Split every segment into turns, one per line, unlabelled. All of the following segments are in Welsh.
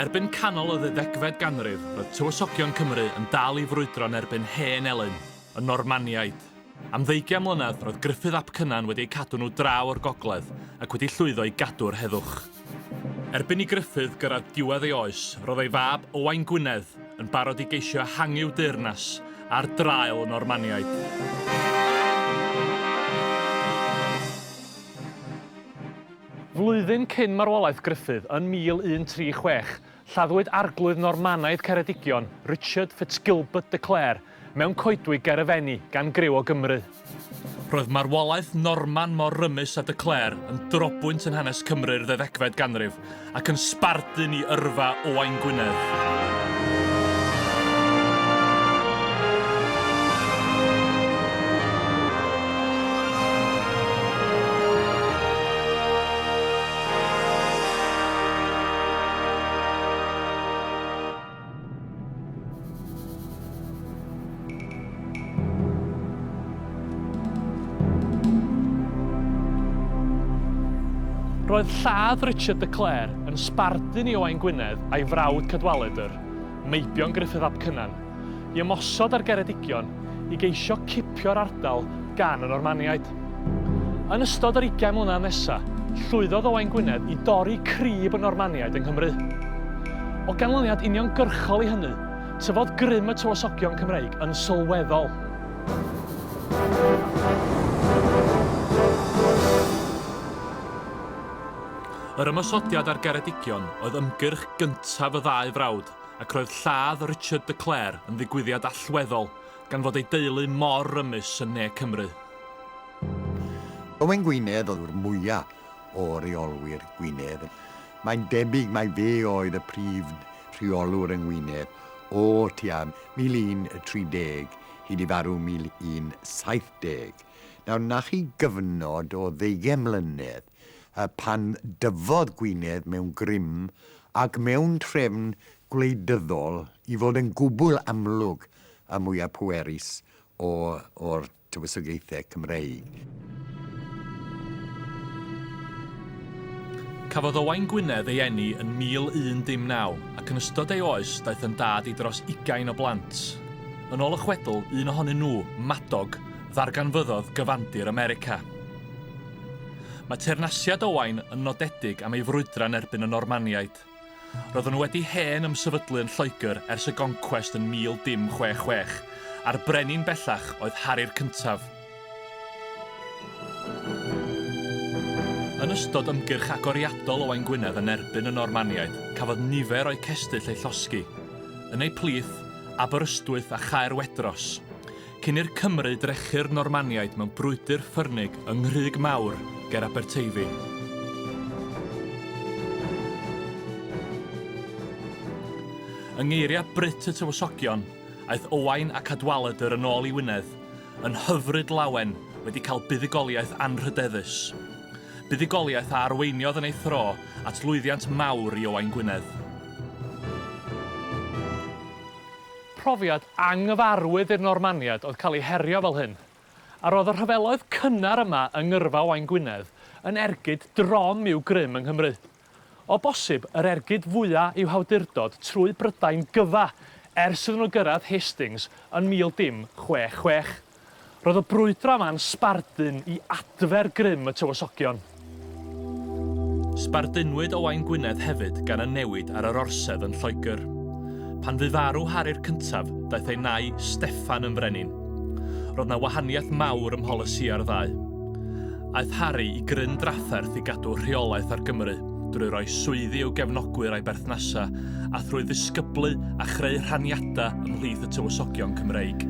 Erbyn canol y ddeuddegfed ganrif, roedd tywysogion Cymru yn dal i frwydro yn erbyn hen elyn, y Normaniaid. Am ddeugian mlynedd, roedd Gruffudd ap Cynan wedi eu cadw nhw draw o'r gogledd ac wedi llwyddo i gadw'r heddwch. Erbyn i Gruffudd gyrraedd diwedd ei oes, roedd ei fab, Owain Gwynedd, yn barod i geisio ehangu'w deyrnas ar draul y Normaniaid. Flwyddyn cyn marwolaeth Gruffudd, yn 1136, Lladdwyd Arglwydd Normanaidd Ceredigion, Richard FitzGilbert de Clare, mewn coedwig ger y Fenni, gan griw o Gymry. Roedd marwolaeth Norman mor rymus â de Clare yn drobwynt yn hanes Cymru'r ddeuddegfed ganrif, ac yn sbardun i yrfa Owain Gwynedd. Roedd lladd Richard de Clare yn sbardun i Owain Gwynedd a'i frawd Cadwaladr, meibion Gruffydd ap Cynan. i ymosod ar Geredigion i geisio cipio'r ardal gan y Normaniaid. Yn ystod yr ugain mlynedd nesa, llwyddodd Owain Gwynedd i dorri crib y Normaniaid yng Nghymru. O ganlyniad uniongyrchol i hynny, tyfodd grym y tywysogion Cymreig yn sylweddol. Yr ymosodiad ar Geredigion oedd ymgyrch gyntaf y ddau frawd ac roedd lladd Richard de Clare yn ddigwyddiad allweddol gan fod ei deulu mor rymus yn ne Cymru.
Owen Gwynedd oedd yw'r mwyaf o reolwyr Gwynedd. Mae'n debyg mai fe oedd y prif reolwr yng Ngwynedd o tua 1130 hyd i farw 1170. Nawr, 'na chi gyfnod o ddeugain mlynedd. Pan dyfodd Gwynedd mewn grym ac mewn trefn gwleidyddol i fod yn gwbl amlwg y mwyaf pwerus o'r tywysogaethau Cymreig.
Cafodd Owain Gwynedd ei eni yn 1019 ac yn ystod ei oes daeth yn dad i dros ugain o blant. Yn ôl y chwedl, un ohonyn nhw, Madog, ddarganfyddodd gyfandir America. Mae teyrnasiad Owain yn nodedig am ei frwydra yn erbyn y Normaniaid. Roedden nhw wedi hen ymsefydlu yn Lloegr ers y goncwest yn 1066, a'r brenin bellach oedd Hari'r Cyntaf. Yn ystod ymgyrch agoriadol Owain Gwynedd yn erbyn y Normaniaid, cafodd nifer o'u cestyll eu llosgi, yn eu plith, Aberystwyth a Chaerwedros. Cyn i'r Cymry drechu'r Normaniaid mewn brwydr ffyrnig yng Nghrug Mawr ger Aberteifi. Yng ngeiriau Brut y Tywysogion, aeth Owain a Cadwaladr yn ôl i Wynedd, yn hyfryd lawen, wedi cael buddugoliaeth anrhydeddus. Buddugoliaeth a arweiniodd yn ei thro at lwyddiant mawr i Owain Gwynedd. Profiad anghyfarwydd i'r Normaniaid oedd cael eu herio fel hyn, a roedd y rhyfeloedd cynnar yma yng ngyrfa Owain Gwynedd yn ergyd drom i'w grym yng Nghymru. O bosib, yr ergyd fwya' i'w hawdurdod trwy Brydain gyfa ers iddyn nhw gyrraedd Hastings yn mil dim chwe chwech. Roedd y brwydro yma'n sbardun i adfer grym y tywysogion. Sbardunwyd Owain Gwynedd hefyd gan y newid ar yr orsedd yn Lloegr. Pan fu farw Hari'r Cyntaf, daeth ei nai, Steffan, yn frenin. Roedd 'na wahaniaeth mawr ym mholisïau'r ddau. Aeth Hari i gryn drafferth i gadw rheolaeth ar Gymru. drwy roi swyddi i'w gefnogwyr a'i berthnasau, a thrwy ddisgyblu a chreu rhaniadau ymhlith y tywysogion Cymreig.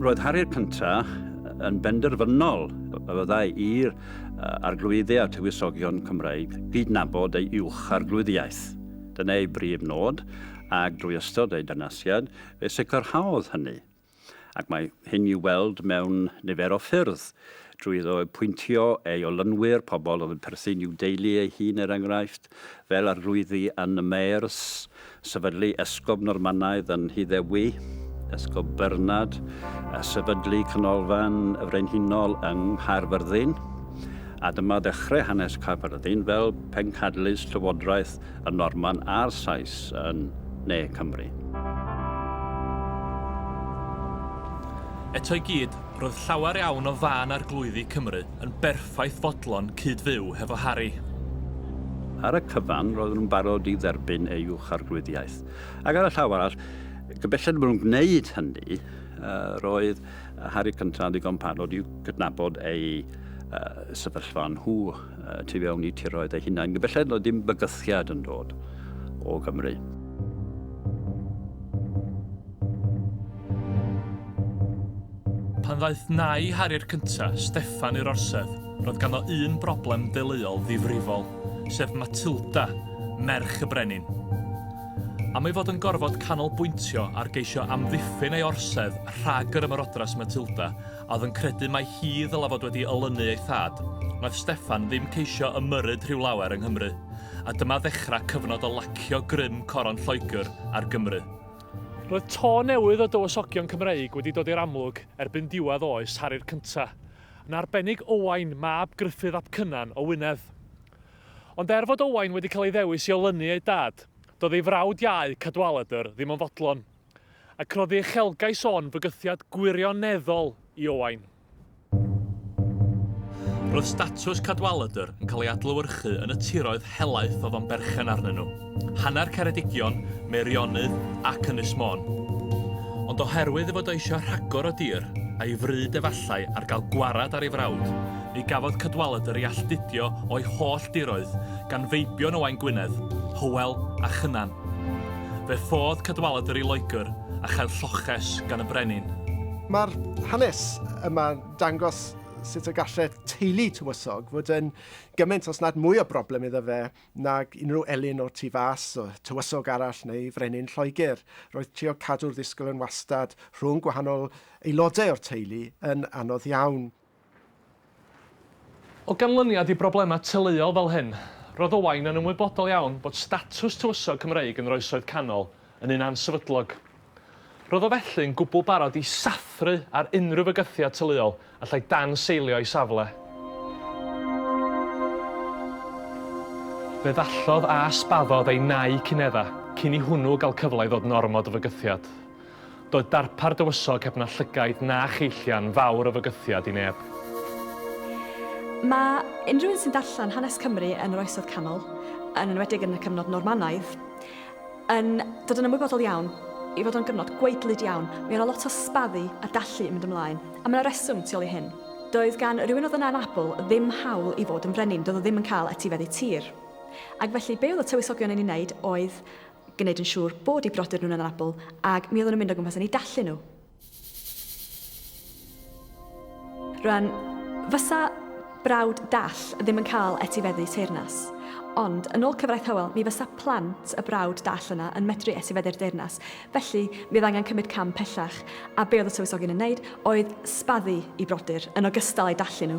Roedd Harri'r cyntaf yn benderfynol y byddai i'r Arglwydde a Tywysogion Cymreig gydnabod ei uwch arglwyddiaeth. Dyna ei brif nod, ac drwy ystod ei dynasiad, fe sicrhaodd hynny. ac mae hyn i'w weld mewn nifer o ffyrdd, drwy iddo apwyntio ei olynwyr, pobl oedd yn perthyn i'w deulu ei hun er enghraifft, fel arlwyddi yn y Maers, sefydlu esgob Normanaidd yn Nhyddewi, Esgob Bernard, a sefydlu Canolfan y Frenhinol yng Nghaerfyrddin. A dyma ddechrau hanes Caerfyrddin fel pencadlys llywodraeth y Norman a'r Sais yn ne Cymru.
Eto i gyd, roedd llawer iawn o fân arglwyddi Cymru yn berffaith fodlon cyd-fyw hefo Harri.
Ar y cyfan, roedden nhw'n barod i dderbyn ei uwch arglwyddiaeth. Ac ar y llaw arall, gyfellen bod nhw'n gwneud hynny, roedd Harri Cyntaf yn ddigon parod i'w gydnabod ei sefyllfa nhw. uh, tu fewn i tiroedd eu hunain. Belled na ddim bygythiad yn dod o Gymru.
Pan ddaeth nai Harri'r cynta, Steffan i'r orsedd, roedd ganddo un broblem deuluol ddifrifol, sef Matilda, merch y brenin. Am ei fod yn gorfod canolbwyntio ar geisio amddiffyn ei orsedd rhag yr ymarodras Matilda, a oedd yn credu mai hi ddylai fod wedi olynu ei thad, wnaeth Steffan ddim ceisio ymyrryd rhyw lawer yng Nghymru, a dyma ddechrau cyfnod o lacio grym coron Lloegr ar Gymru. Roedd tôn newydd o dywysogion Cymreig wedi dod i'r amlwg erbyn diwedd oes Harri'r Cyntaf, yn arbennig Owain, mab Gruffydd ap Cynan, o Wynedd. Ond er fod Owain wedi cael ei ddewis i olynu ei dad, doedd ei frawd iau, Cadwaladr, ddim yn fodlon. Ac roedd ei uchelgais o'n fygythiad gwirioneddol i Owain. Roedd statws Cadwaladr yn cael ei adlewyrchu yn y tiroedd helaeth oedd o'n berchen arnyn nhw, hanner Ceredigion, Meirionnydd ac Ynys Môn. Ond oherwydd ei fod o eisiau rhagor o dir, a'i fryd efallai ar gael gwarad ar ei frawd, ni gafodd Cadwaladr ei alltudio o'i holl diroedd gan feibion Owain Gwynedd, Hywel a Chynan. Fe ffodd Cadwaladr yr i Loegr a chael lloches gan y brenin. Mae'r
hanes yma'n dangos sut y gallai teulu tywysog fod yn gymaint os nad mwy o broblem iddo fe nag unrhyw elyn o'r tu fas, tywysog arall neu frenin Lloegr. Roedd trio cadw'r ddisgwyl yn wastad rhwng gwahanol aelodau o'r teulu yn anodd iawn.
O ganlyniad i broblemau teuluol fel hyn, roedd Owain yn ymwybodol iawn bod statws tywysog Cymreig yn yr Oesoedd Canol yn un ansefydlog. Roedd o felly'n gwbl barod i sathru ar unrhyw fygythiad teuluol allai danseilio ei safle. Fe ddallodd a sbaddodd ei nau cyn-efa, cyn i hwnnw gael cyfle i ddod yn ormod o fygythiad. Doedd darpar dywysog heb na llygaid na cheillian fawr o fygythiad i neb. Mae
unrhyw un sy'n darllen hanes Cymru yn yr Oesoedd Canol, yn enwedig yn y cyfnod Normanaidd, yn dod yn ymwybodol iawn ei fod o'n gyfnod gwaedlyd iawn. Mi o' 'na lot o sbaddu a dallu yn mynd ymlaen, a ma' 'na reswm tu ôl i hyn. Doedd gan rywun oedd yn anabl ddim hawl i fod yn frenin, doedd o ddim yn cael etifeddu tir. Ac felly, be oedd y tywysogion yn ei wneud oedd gwneud yn siŵr bod eu brodyr nhw'n anabl, ac mi oedden nhw'n mynd o gwmpas yn eu dallu nhw. Rwan, fysa brawd dall ddim yn cael etifeddu teyrnas. Ond, yn ôl cyfraith Hywel, mi fysa plant y brawd dall yna yn medru etifeddu'r deyrnas. Felly, mi oedd angen cymryd cam pellach, a be oedd y tywysogion yn wneud oedd sbaddu i brodyr, yn ogystal â'i dallu nhw.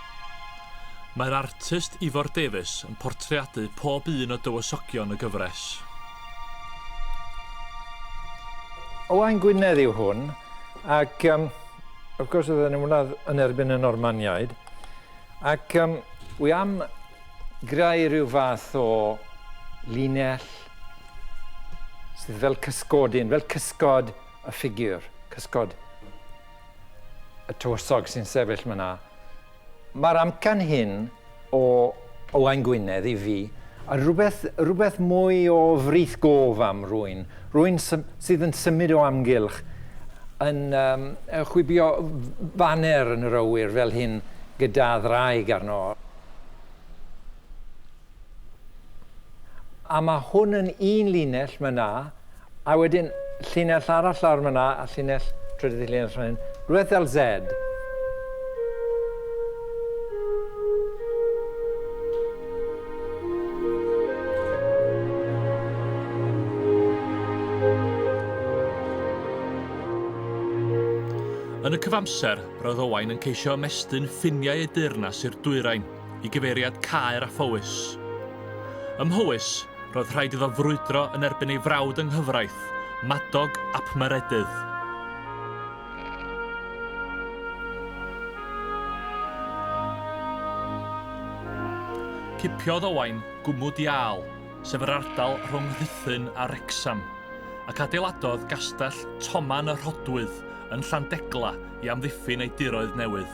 Mae'r artist Ifor Davies yn portreadu pob un o dywysogion y gyfres.
Owain Gwynedd yw hwn, ac um, of course oedd yn ymwneud yn erbyn y Normaniaid, ac um, wy am greu rhyw fath o linell sydd fel cysgodyn, fel cysgod y ffigur, cysgod y tywysog sy'n sefyll myna. Mae'r amcan hyn o Owain Gwynedd i fi a rhywbeth, rhywbeth mwy o frith gof am rwyn, rwyn sydd yn symud o amgylch, yn um, chwibio faner yn yr awyr fel hyn gyda ddraig arno. A mae hwn yn un linell myna, a wedyn llinell arall lawr myna, a llinell, trydydd llinell fan hyn, rhywbeth fel Z.
Yn y cyfamser, roedd Owain yn ceisio ymestyn ffiniau ei deyrnas i'r dwyrain. i gyfeiriad Caer a Phowys. Ym Mhowys, roedd rhaid iddo frwydro yn erbyn ei frawd yng nghyfraith, Madog ap Meredydd. Cipiodd Owain gwmwd iâl, sef yr ardal rhwng Rhuthun a Wrecsam, ac adeiladodd Gastell Toman y Rhodwydd yn Llandegla i amddiffyn ei diroedd newydd.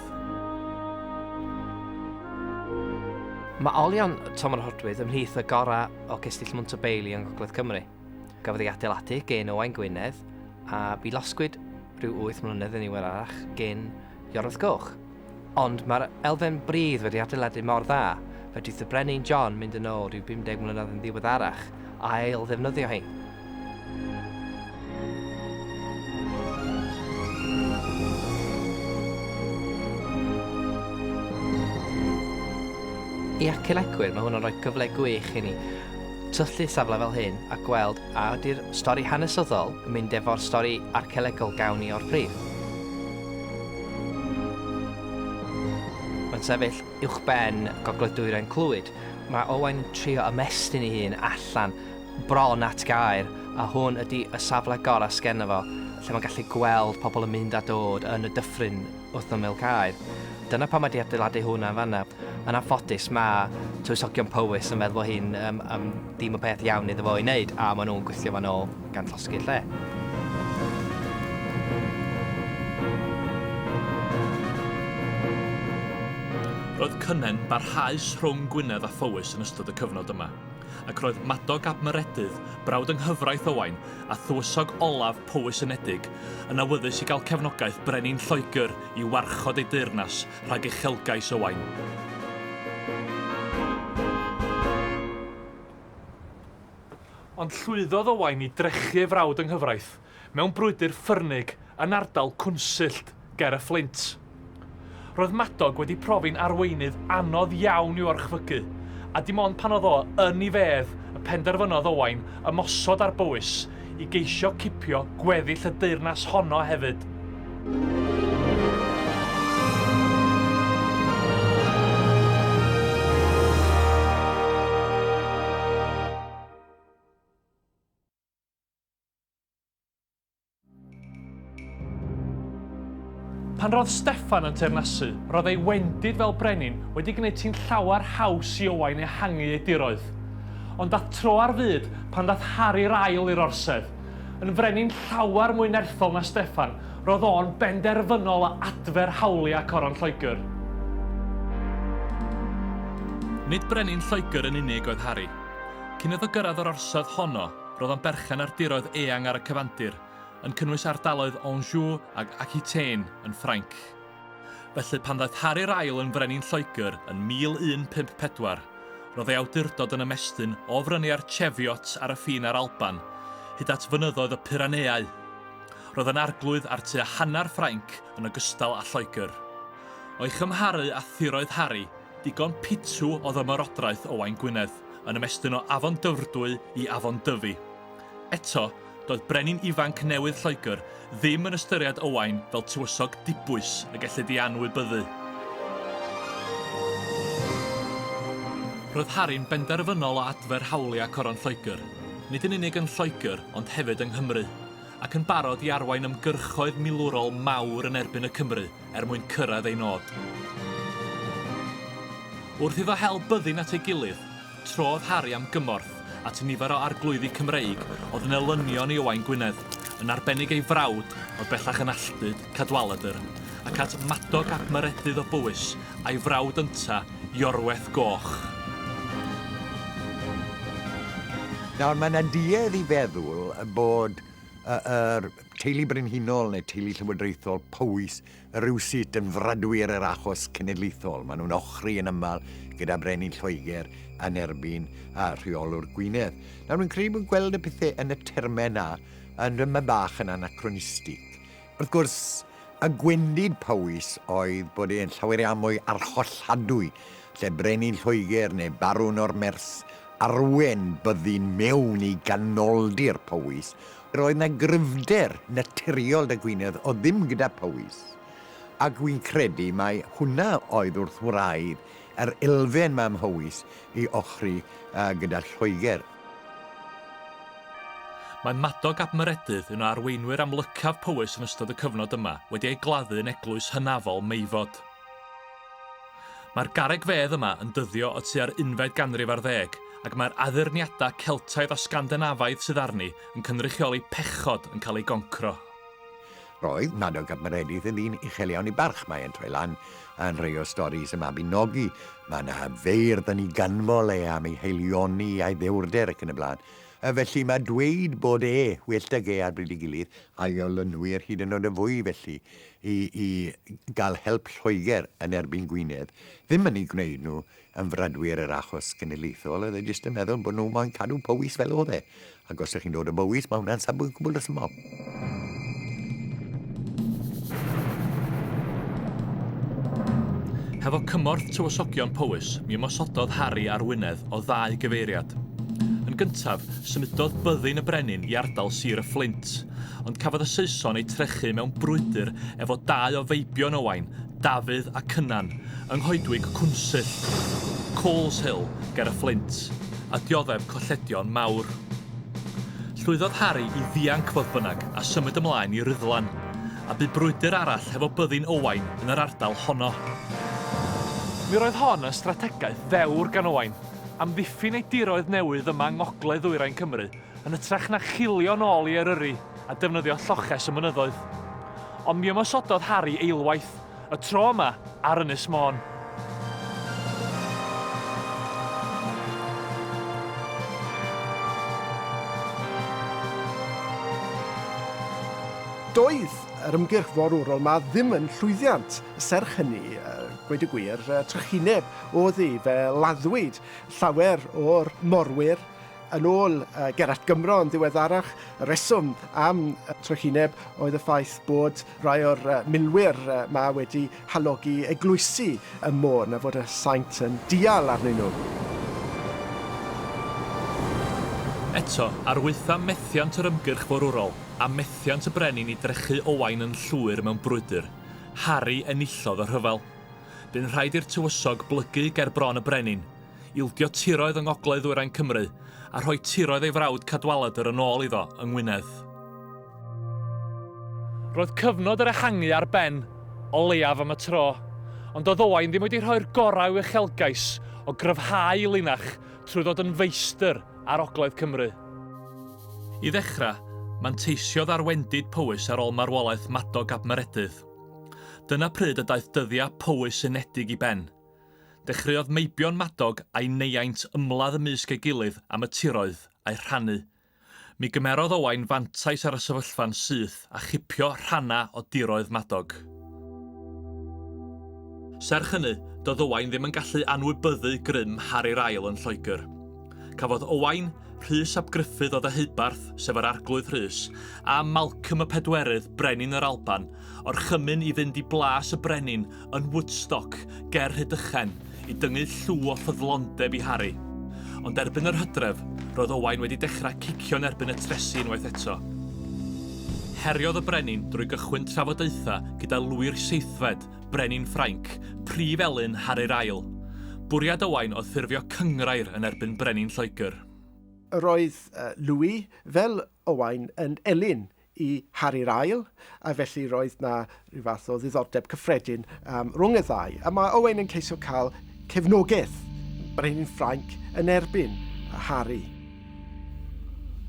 Mae olion Toman y Rhodwydd ymhlith y gorau o gestyll Montebelli yng Ngogledd Cymru. Gafodd ei adeiladu gên Owain Gwynedd, a bu losgwyd rhyw wyth mlynedd yn ddiweddarach gên Iorwerth Goch. Ond mae'r elfen bridd wedi adeiladu mor dda, fedrith y Brenin John mynd yn ôl ryw 50 mlynedd yn ddiweddarach a ail-ddefnyddio hi. I archeolegwyr, mae hwn yn rhoi cyfle gwych i ni syllu safle fel hyn a gweld A ydy'r stori hanesyddol yn mynd efo'r stori archeolegol gawn ni o'r pridd? Mae'n sefyll uwchben Gogledd Dwyrain Clwyd. Mae Owain yn trio ymestyn ei hun allan bron at gaer, a hwn ydy y safle gorau sgeno fo, lle mae'n gallu gweld pobl yn mynd a dod yn y dyffryn. wrth ymyl Caer. Dyna pam ydi adeiladu hwn yn fanna. Yn anffodus, mae tywysogion Powys yn meddwl bod hyn um, um, dim y peth iawn iddo fo i wneud, a maen nhw'n gweithio fan ôl gan llosgi'r lle.
Roedd cynnen barhaus rhwng Gwynedd a Phowys yn ystod y cyfnod yma, ac roedd Madog ab Meredydd, brawd yng nghyfraith Owain, a thywysog olaf Powys Unedig, yn awyddus i gael cefnogaeth Brenin Lloegr i warchod ei deyrnas rhag uchelgais Owain. Ond llwyddodd Owain i drechu ei frawd yng nghyfraith, mewn brwydr ffyrnig, yn ardal Cwnsyllt. ger y Fflint. Roedd Madog wedi profi'n arweinydd anodd iawn i'w orchfygu, a dim ond pan oedd o yn ei fedd y penderfynodd Owain ymosod ar Bowys i geisio cipio gweddill y deyrnas honno hefyd. Pan roedd Steffan yn teyrnasu, roedd ei wendid fel brenin wedi gwneud ti'n llawer haws i Owain ehangu ei diroedd. Ond dath tro ar fyd pan ddath Harri'r ail i'r orsedd. Yn frenin llawer mwy nerthol na Steffan, roedd o'n benderfynol o adfer hawliau coron Lloegr. Nid brenin Lloegr yn unig oedd Harri. Cyn iddo gyrraedd yr orsedd honno, Roedd o'n berchen ar diroedd eang ar y cyfandir, yn cynnwys ardaloedd Anjou ac Aquitaine yn Ffrainc. Felly, pan ddaeth Hari'r Ail yn frenin Lloegr yn 1154, roedd ei awdurdod yn ymestyn o frynu ar Cheviot ar y ffin â'r Alban, hyd at fynyddoedd y Pyraneau. Roedd yn arglwydd ar tua hanner Ffrainc yn ogystal â Lloegr. O'i chymharu â thiroedd Hari, digon pitw oedd ymerodraeth Owain Gwynedd, yn ymestyn o Afon Dyfrdwy i Afon Dyfi. Eto, doedd brenin ifanc newydd Lloegr ddim yn ystyried Owain fel tywysog dibwys y gellid ei anwybyddu. Roedd Harri'n benderfynol o adfer hawliau Coron Lloegr, nid yn unig yn Lloegr ond hefyd yng Nghymru, ac yn barod i arwain ymgyrchoedd milwrol mawr yn erbyn y Cymry er mwyn cyrraedd ei nod. Wrth iddo hel byddin at ei gilydd, trodd Harri am gymorth at nifer o arglwyddi Cymreig oedd yn elynion i Owain Gwynedd, yn arbennig ei frawd, oedd bellach yn alltud, Cadwaladr, ac at Madog ap Meredydd o Bowys, a'i frawd ynta, Iorweth Goch.
Nawr, mae'n anduedd i feddwl bod yr Teulu Brenhinol neu Teulu Llywodraethol Powys rywsut yn fradwy ar yr achos cenedlaethol. Maen nhw'n ochri yn aml gyda Brenin Lloegr yn erbyn a rheolwr Gwynedd. Nawr, fi'n credu bod gweld y pethau yn y termau yna yn dyma bach yn anacronistig. Wrth gwrs, y gwendid Powys oedd bod e'n llawer iawn mwy arholladwy lle Brenin Lloegr neu Barwn o'r Mers arwen byddin mewn i ganoldir Powys, Roedd 'na gryfder naturiol 'da Gwynedd o ddim gyda Powys, ac wi'n credu mai hwnna oedd wrth wraidd yr elfen 'ma ym Mhowys i ochri gyda Lloegr.
Mae Madog ap Meredydd, un o arweinwyr amlycaf Powys yn ystod y cyfnod yma, wedi ei gladdu yn eglwys hynafol Meifod. Mae'r garreg fedd yma yn dyddio o tua'r unfed ganrif ar ddeg, ac mae'r addurniadau Celtaidd a Sgandinafaidd sydd arni yn cynrychioli pechod yn cael eu goncro. Roedd
Madog ap Meredydd yn ddyn uchel iawn ei barch, mae e'n troi lan yn rhai o storis y Mabinogi, mae 'na feirdd yn ei ganmol e am ei haelioni a'i ddewrder ac yn y blaen. Felly mae dweud bod e, well 'da ge ar bryd ei gilydd, a'i olynwyr hyd yn oed yn fwy felly, i i gael help Lloegr yn erbyn Gwynedd, ddim yn ei gwneud nhw yn fradwyr yr achos genedlaethol, oedd e jyst yn meddwl bod nhw moyn cadw Powys fel oedd e, ac os ydych chi'n dod o Bowys, mae hwnna'n safbwynt gwbl resymol.
Hefo cymorth tywysogion Powys, mi ymosododd Harri ar Wynedd o ddau gyfeiriad. Yn gyntaf, symudodd byddin y brenin i ardal Sir y Fflint, ond cafodd y Saeson eu trechu mewn brwydr efo dau o feibion Owain, Dafydd a Cynan, yng nghoedwig Cwnsyll, Coleshill, ger y Fflint, a dioddef colledion mawr. Llwyddodd Harri i ddianc fodd bynnag a symud ymlaen i Ruddlan, a bu brwydr arall hefo byddin Owain yn yr ardal honno. Mi roedd hon yn strategaeth ddewr gan Owain, amddiffyn ei diroedd newydd yma yng ngogledd-ddwyrain Cymru, yn hytrach na chilio'n ôl i Eryri a defnyddio lloches y mynyddoedd. Ond mi ymosododd Harri eilwaith, y tro yma ar Ynys Môn.
Doedd yr ymgyrch forwrol 'ma ddim yn llwyddiant, serch hynny, gweud y gwir, trychineb oedd hi, fe laddwyd llawer o'r morwyr, Yn ôl Gerallt Gymro yn ddiweddarach, y rheswm am y trychineb oedd y ffaith bod rhai o'r milwyr 'ma wedi halogi eglwysi y môn a fod y saint yn dial arnyn nhw.
Eto, arwyddfa methiant yr ymgyrch forwrol, a methiant y brenin i drechu Owain yn llwyr mewn brwydr. Harri enillodd y rhyfel. Bu'n rhaid i'r tywysog blygu ger bron y brenin. ildio tiroedd yng ngogledd ddwyrain Cymru a rhoi tiroedd ei frawd Cadwaladr yn ôl iddo yng Ngwynedd. Roedd cyfnod yr ehangu ar ben, o leiaf am y tro, ond doedd Owain ddim wedi rhoi'r gorau i'w uchelgais o gryfhau ei linach trwy ddod yn feistr ar ogledd Cymru. I ddechrau, manteisiodd ar wendid Powys ar ôl marwolaeth Madog ap Meredydd. Dyna pryd y daeth dyddiau Powys unedig i ben. Dechreuodd Meibion Madog a'i neiaint ymladd ymysg ei gilydd am y tiroedd a'u rhannu. Mi gymerodd Owain fantais ar y sefyllfa'n syth a chipio rhannau o diroedd Madog. Serch hynny, doedd Owain ddim yn gallu anwybyddu grym Hari'r Ail yn Lloegr. Cafodd Owain, Rhys ap Gruffudd o Ddeheubarth, sef yr Arglwydd Rhys, a Malcolm y Pedwerydd, brenin yr Alban, orchymyn i fynd i blas y brenin yn Woodstock ger Rhydychen i dyngu llw o ffyddlondeb i Harry. Ond erbyn yr hydref, roedd Owain wedi dechrau cicio yn erbyn y tresi unwaith eto. Heriodd y brenin drwy gychwyn trafodaethau gyda lwyr seithfed, Brenin Ffrainc, prif elyn Harry'r Ail. Bwriad Owain oedd ffurfio cynghrair yn erbyn Brenin Lloegr. Roedd
Louis, fel Owain, yn elyn i Harry'r ail, a felly roedd na rhyw fath o ddiddordeb cyffredin um, rhwng y ddau. A mae Owain yn ceisio cael cefnogaeth brenin Ffrainc yn erbyn Harry.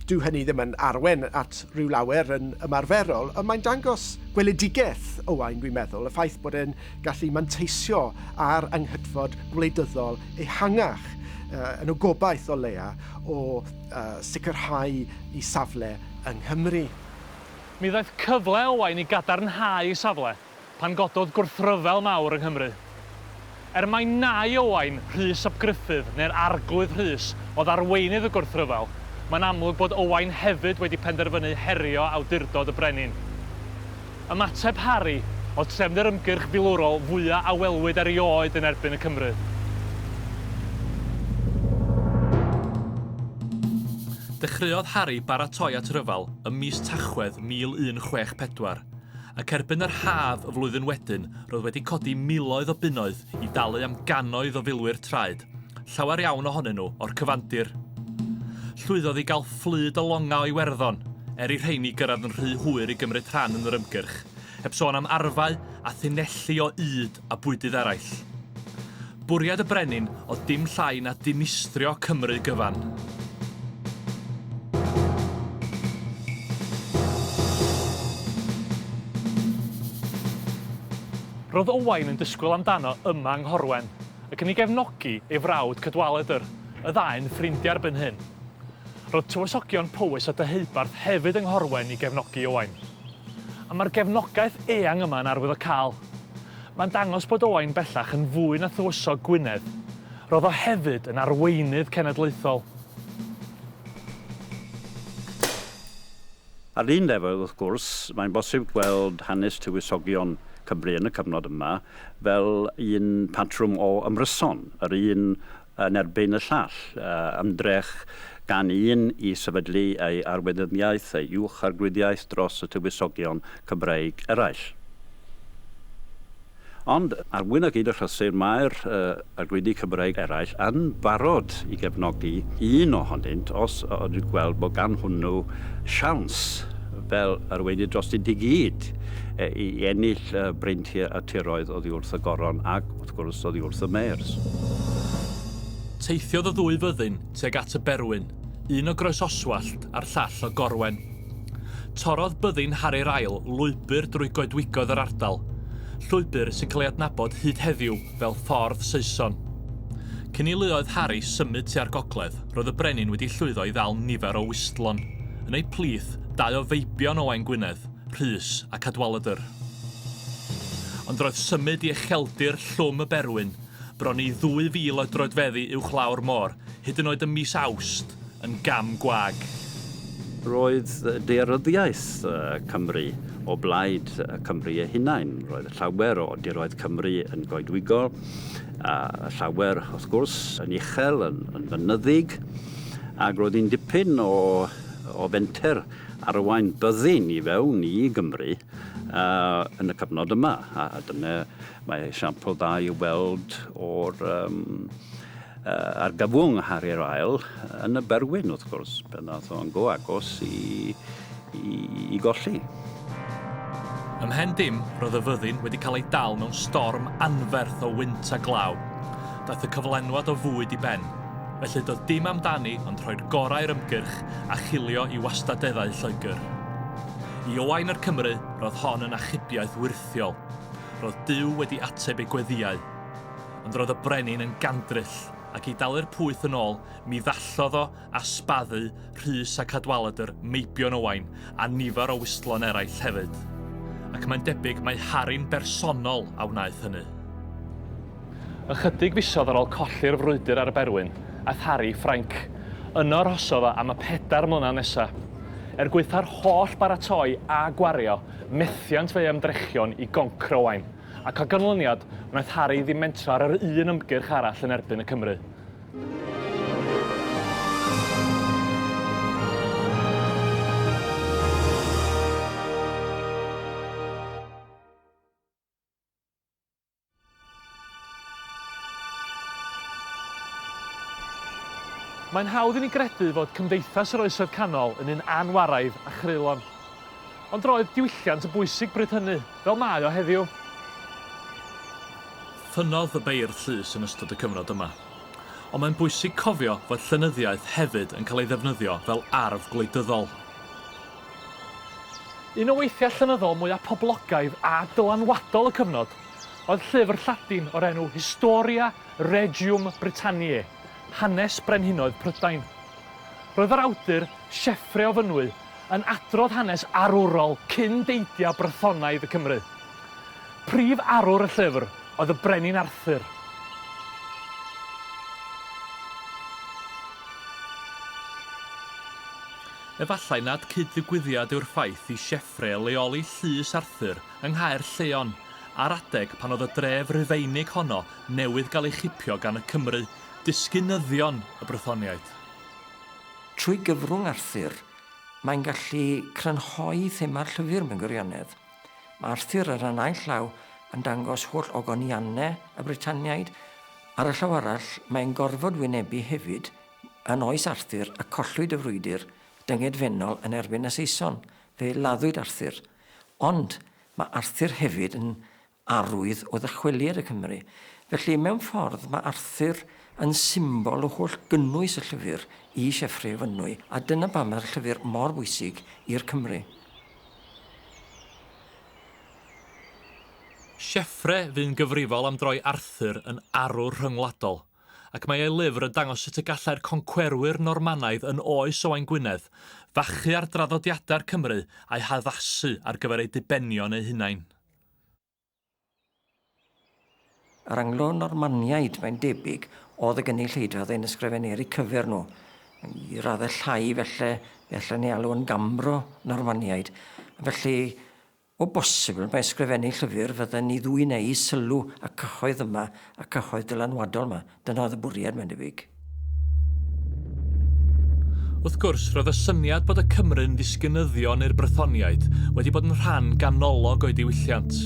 Dyw hynny ddim yn arwen at ryw lawer yn ymarferol, ond mae'n dangos gweledigaeth Owain, dwi'n meddwl, y ffaith bod e'n gallu manteisio ar anghytfod gwleidyddol ehangach uh, yn y gobaith o leia o a sicrhau ei safle yng Nghymru. Mi ddaeth
cyfle Owain i gadarnhau ei safle pan gododd gwrthryfel mawr yng Nghymru. Er mai nai Owain, Rhys ap Gruffudd, neu'r Arglwydd Rhys, oedd arweinydd y gwrthryfel, mae'n amlwg bod Owain hefyd wedi penderfynu herio awdurdod y brenin. Ymateb Harry oedd trefn yr ymgyrch filwrol fwyaf a welwyd erioed yn erbyn y Cymry. Dechreuodd Harry baratoi at ryfel ym mis Tachwedd 1164, ac erbyn yr haf y flwyddyn wedyn roedd wedi codi miloedd o bunnoedd i dalu am gannoedd o filwyr traed Llawer iawn ohonyn nhw o'r cyfandir. Llwyddodd i gael fflyd o longau o Iwerddon, er i rheini gyrraedd yn rhy hwyr i gymryd rhan yn yr ymgyrch, heb sôn am arfau a thunelli o ŷd a bwydydd eraill. Bwriad y brenin oedd dim llai na dinistrio Cymru gyfan. Roedd Owain yn disgwyl amdano yma yng Nghorwen, ac yn ei gefnogi ei frawd Cadwaladr, y ddau'n ffrindiau erbyn hyn. Roedd Tywysogion Powys a Deheubarth hefyd yng Nghorwen i gefnogi Owain. A mae'r gefnogaeth eang yma yn arwyddocaol. Mae'n dangos bod Owain bellach yn fwy na Thywysog Gwynedd, roedd o hefyd yn arweinydd cenedlaethol.
Ar un lefel, wrth gwrs, mae'n bosib gweld hanes Tywysogion Cymru yn y cyfnod yma fel un patrwm o ymryson, yr un yn erbyn y llall, ymdrech gan un i sefydlu ei arweinyddiaeth, ei uwch-arglwyddiaeth dros y Tywysogion Cymreig eraill. Ond, ar wyn a gyd y rhosir, mae'r arglwyddi Cymreig eraill yn barod i gefnogi un ohonynt os ydyn gweld bod gan hwnnw siawns fel arweinydd drostynt i gyd i ennill breintiau a tiroedd oddi wrth y Goron ac, wrth gwrs, oddi wrth y Meirs. Teithiodd
y ddwy fyddin tuag at y Berwyn, un o Groesoswallt a'r llall o Gorwen. Torrodd byddin Harri'r ail lwybr drwy goedwigoedd yr ardal, llwybr sy'n cael ei adnabod hyd heddiw fel Ffordd Saeson. Cyn i luoedd Harri symud tua'r gogledd, roedd y brenin wedi llwyddo i ddal nifer o wistlon. Yn eu plith, dau o feibion Owain Gwynedd, Rhys a Cadwaladr. Ond roedd symud i ucheldir Llwm y Berwyn bron i ddwy fil o droedfeddi uwchlaw'r môr, hyd yn oed ym mis Awst, yn gam gwag. Roedd
daearyddiaeth Cymru o blaid Cymru ei hunain. Roedd llawer o diroedd Cymru yn goedwigol, a llawer, wrth gwrs, yn uchel, yn, yn fynyddig, ac roedd hi'n dipyn o, o fenter arwain byddin i fewn i Gymru uh, yn y cyfnod yma, a, a dyna Mae esiampl dda i'w weld o'r um, uh, argyfwng Harrier Ail yn y Berwyn, wrth gwrs, pan ddath o'n go agos i, i, i golli.
Ymhen dim, roedd y fyddin wedi cael ei dal mewn storm anferth o wynt a glaw. Daeth y cyflenwad o fwyd i ben, felly doedd dim amdani ond rhoi'r gorau i'r ymgyrch a chilio i wastadeddau Lloegr. I Owain yr Cymru, roedd hon yn achubiaeth wyrth ffeithiol, roedd Duw wedi ateb ei gweddïau. Ond roedd y brenin yn gandryll, ac i dalu'r pwyth yn ôl, mi ddallodd o a sbaddu Rhys a Cadwaladr, Meibion Owain, a nifer o wistlon eraill hefyd. Ac mae'n debyg mai Harry'n bersonol a wnaeth hynny. Ychydig fisoedd ar ôl colli'r frwydr ar y Berwyn, aeth Harry i Ffrainc. Yno arhosodd o am y pedair mlynedd nesaf. Er gwaetha'r holl baratoi a gwario, Methiant fe'i ymdrechion i goncro Owain, ac o ganlyniad, wnaeth Harri ddim mentro ar yr un ymgyrch arall yn erbyn y Cymry. Mae'n hawdd i ni gredu fod Cymdeithas yr Oesoedd Canol yn un anwaraidd a chreulon. Ond roedd diwylliant yn bwysig bryd hynny, fel mae o heddiw. Ffynnodd y beirdd llys yn ystod y cyfnod yma. Ond mae'n bwysig cofio fod llenyddiaeth hefyd yn cael ei ddefnyddio fel arf gwleidyddol. Un o weithiau llenyddol mwyaf poblogaidd a dylanwadol y cyfnod oedd llyfr Lladin o'r enw Historia Regium Britanniae, Hanes Brenhinoedd Prydain. Roedd yr awdur, Sieffre o Fynwy, yn adrodd hanes arwrol cyn deidiau Brythonaidd y Cymry. Prif arwr y llyfr oedd y Brenin Arthur. Efallai nad cyd-ddigwyddiad yw'r ffaith i Sieffre leoli Llys Arthur yng Nghaer Lleon ar adeg pan oedd y dref Rufeinig honno newydd gael ei chipio gan y Cymry, disgynyddion y Brythoniaid.
Trwy gyfrwng Arthur, mae'n gallu crynhoi thema'r llyfr mewn gwirionedd. Mae Arthur ar y naill law yn dangos holl ogoniannau y Brytaniaid, ar y llaw arall mae'n gorfod wynebu hefyd Yn oes Arthur y collwyd y frwydr dyngedfennol yn erbyn y Saeson, fe laddwyd Arthur. Ond mae Arthur hefyd yn arwydd o ddychweliad y Cymry. Felly, mewn ffordd, mae Arthur yn symbol o holl gynnwys y llyfr i Sieffre o Fynwy, a dyna pam mae'r llyfr mor bwysig i'r Cymry.
Sieffre fu'n gyfrifol am droi Arthur yn arwr rhyngwladol. ac mae ei lyfr yn dangos sut y gallai'r concwerwyr Normanaidd yn oes Owain Gwynedd fachu ar draddodiadau'r Cymry a'u haddasu ar gyfer eu dibenion eu hunain.
Yr Anglo-Normaniaid, mae'n debyg, oedd y gynulleidfa oedd ein ysgrifeneri cyfer nhw, i raddau llai felly, fe allen ni alw yn Gambro-Normaniaid, felly, O bosibl, mae ysgrifennu llyfr fydden ni ddwy'n eu sylw a cyhoedd yma, a cyhoedd dylanwadol 'ma. Dyna oedd y bwriad, mae'n debyg.
Wrth gwrs, roedd y syniad bod y Cymry'n ddisgynyddion i'r Brythoniaid wedi bod yn rhan ganolog o'i diwylliant.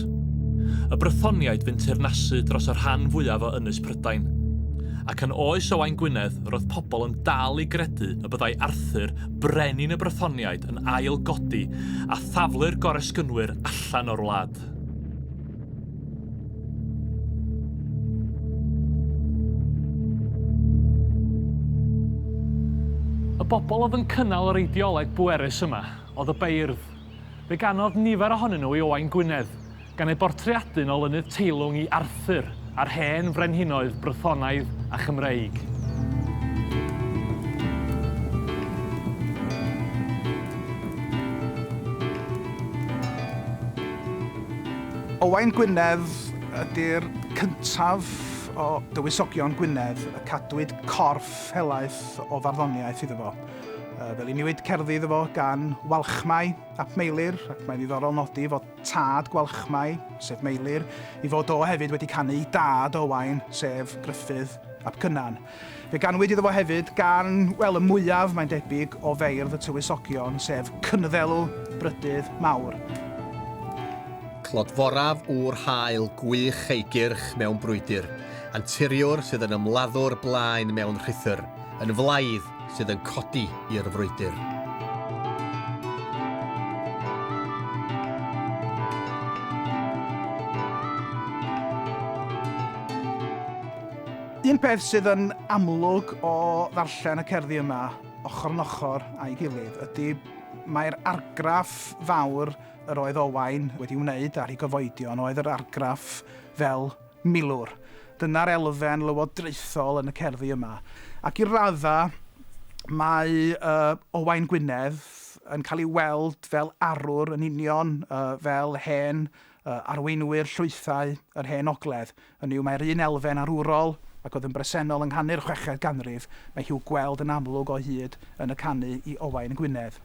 Y Brythoniaid fu'n teyrnasu dros y rhan fwyaf o Ynys Prydain. Ac yn oes Owain Gwynedd, roedd pobl yn dal i gredu y byddai Arthur Brenin y Brythoniaid yn ail godi a thaflu'r goresgynwyr allan o'r wlad. Y bobl oedd yn cynnal yr eideoleg bwerus yma oedd y beirdd. Fe ganodd nifer ohonyn nhw i Owain Gwynedd, gan ei bortreadu'n olynydd teilwng i Arthur a'r hen frenhinoedd Brythonaidd a Chymreig.
Owain Gwynedd ydy'r cyntaf o dywysogion Gwynedd y cadwyd corff helaeth o farddoniaeth iddo fo. Fe luniwyd cerddi iddo fo gan Walchmai ap Meilir ac mae'n ddiddorol nodi fod tad Gwalchmai, sef Meilir, i fod o hefyd wedi canu i dad Owain, sef Gruffydd ap Cynan. Fe ganwyd iddo fo hefyd gan, wel, y mwyaf, mae'n debyg, o feirdd y Tywysogion, sef Cynddelw, Brydydd Mawr. Clodforaf
ŵr haul gwych ei gyrch mewn brwydr, anturiwr sydd yn ymladdwr blaen mewn rhuthr, yn flaidd, sydd yn codi i'r frwydr.
Un peth sydd yn amlwg o ddarllen y cerddi yma, ochr yn ochr a'i gilydd, ydy mae'r argraff fawr yr oedd Owain wedi wneud ar ei gyfoedion oedd yr argraff fel Milwr. Dyna'r elfen lywodraethol yn y cerddi yma. Ac i raddau, mae Owain Gwynedd yn cael ei weld fel arwr yn union fel hen arweinwyr llwythau yr Hen Ogledd, hynny yw mae'r un elfen arwrol ac oedd yn bresennol yng nghanu'r chweched ganrif, mae hi'w gweld yn amlwg o hyd yn y canu i Owain Gwynedd.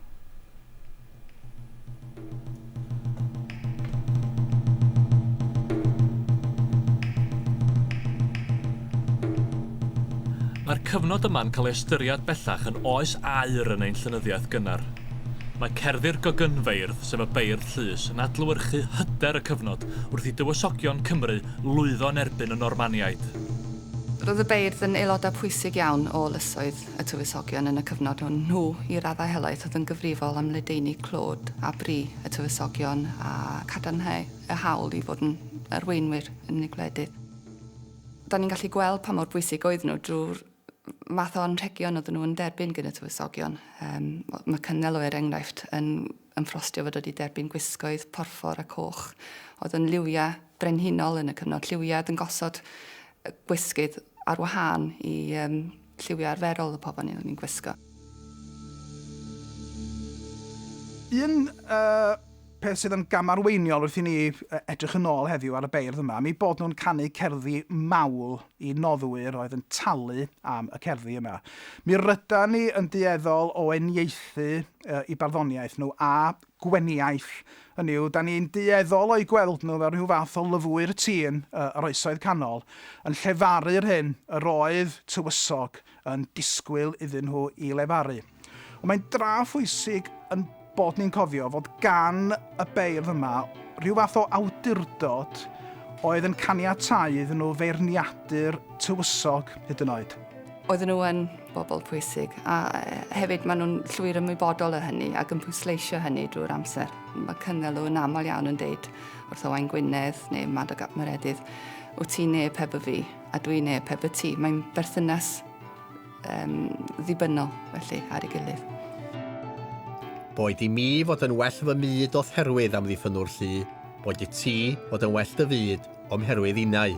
Mae'r cyfnod yma'n cael ei ystyried bellach yn oes aur yn ein llenyddiaeth gynnar. Mae cerddi'r gogynfeirdd, sef y beirdd llys, yn adlewyrchu hyder y cyfnod wrth i dywysogion Cymru lwyddo yn erbyn y Normaniaid. Roedd
y beirdd yn aelodau pwysig iawn o Ynysoedd y tywysogion yn y cyfnod hwn, nhw i raddau helaeth oedd yn gyfrifol am ledaenu clod a bri y tywysogion a cadarnhau y hawl i fod yn arweinwyr yn unig gwledydd. Da ni'n gallu gweld pa mor bwysig oedd nhw drwy'r math o anrhegion oedden nhw yn derbyn gyn y tywysogion. Um, mae Cynnel o er enghraifft yn, yn ffrostio fod wedi derbyn gwisgoedd porffor a coch oedd yn liwiau brenhinol yn y cyfnod lliwiad yn gosod gwisgydd ar wahân i um, Lliwiau arferol y pobl oeddwn i'n gwisgo.
Un peth sydd yn gamarweiniol wrth i ni edrych yn ôl heddiw ar y beirdd yma, am eu bod nhw'n canu cerddi mawl i noddwyr oedd yn talu am y cerddi yma. Mi rydan ni yn dueddol o eniaethu i barddoniaeth nhw a Gweniaith, hynny yw, dan ni'n dueddol o'u gweld nhw fel rhyw fath o lyfwyr tîn yr Oesoedd Canol, yn llefaru'r hyn yr oedd tywysog yn disgwyl iddyn nhw i lefaru. Ond mae'n dra phwysig ein bod ni'n cofio fod gan y beirdd yma rhyw fath o awdurdod oedd yn caniatáu iddyn nhw feirniadu'r tywysog hyd yn oed. Oedden nhw yn
bobl pwysig a hefyd maen nhw'n llwyr ymwybodol o hynny ac yn pwysleisio hynny drwy'r amser. Mae Cynghelw yn aml iawn yn deud wrth Owain Gwynedd neu Madog ap Meredydd, wyt ti neu pe by fi a dwi neu pe by ti. Mae'n berthynas um, ddibynnol felly ar ei gilydd.
Boed i mi fod yn well fy myd o therwydd am ddiffynwr llu, boed i ti fod yn well dy fyd o'm herwydd innau.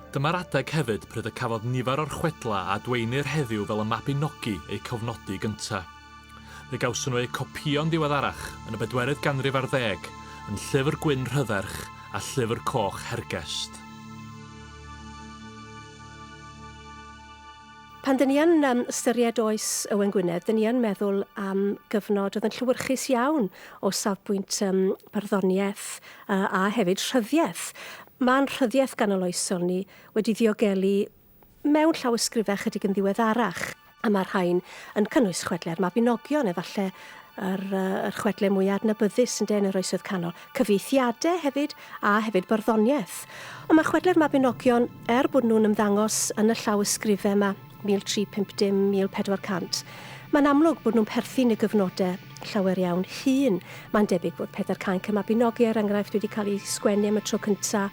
Dyma'r adeg hefyd pryd y cafodd nifer o'r chwedlau a adwaenir heddiw fel y Mabinogi eu cofnodi gyntaf. Fe gawson nhw eu copïo'n ddiweddarach, yn y bedwerydd ganrif ar ddeg, yn Llyfr Gwyn Rhydderch a Llyfr Coch Hergest.
Pan dyn ni yn um, ystyried oes Owen Gwynedd, dyn ni yn meddwl am gyfnod oedd yn llywyrchus iawn o safbwynt um, barddoniaeth uh, a hefyd rhyddiaeth. Mae'n rhyddiaeth ganoloesol ni wedi ddiogelu mewn llawysgrifau chydig yn ddiweddarach a mae'r rhain yn cynnwys chwedlau'r Mabinogion, efallai yr yr chwedle mwya adnabyddus ynde yn yr oesoedd canol. Cyfieithiade hefyd, a hefyd barddoniaeth. Ond mae chwedle'r Mabinogion, er bod nhw'n ymddangos yn y llawysgrife yma, 1350, 1400, mae'n amlwg bod nhw'n perthyn i gyfnode llawer iawn hŷn. Mae'n debyg bod Pedair Cainc y Mabinogi, er enghraifft, wedi cael ei sgwennu am y tro cynta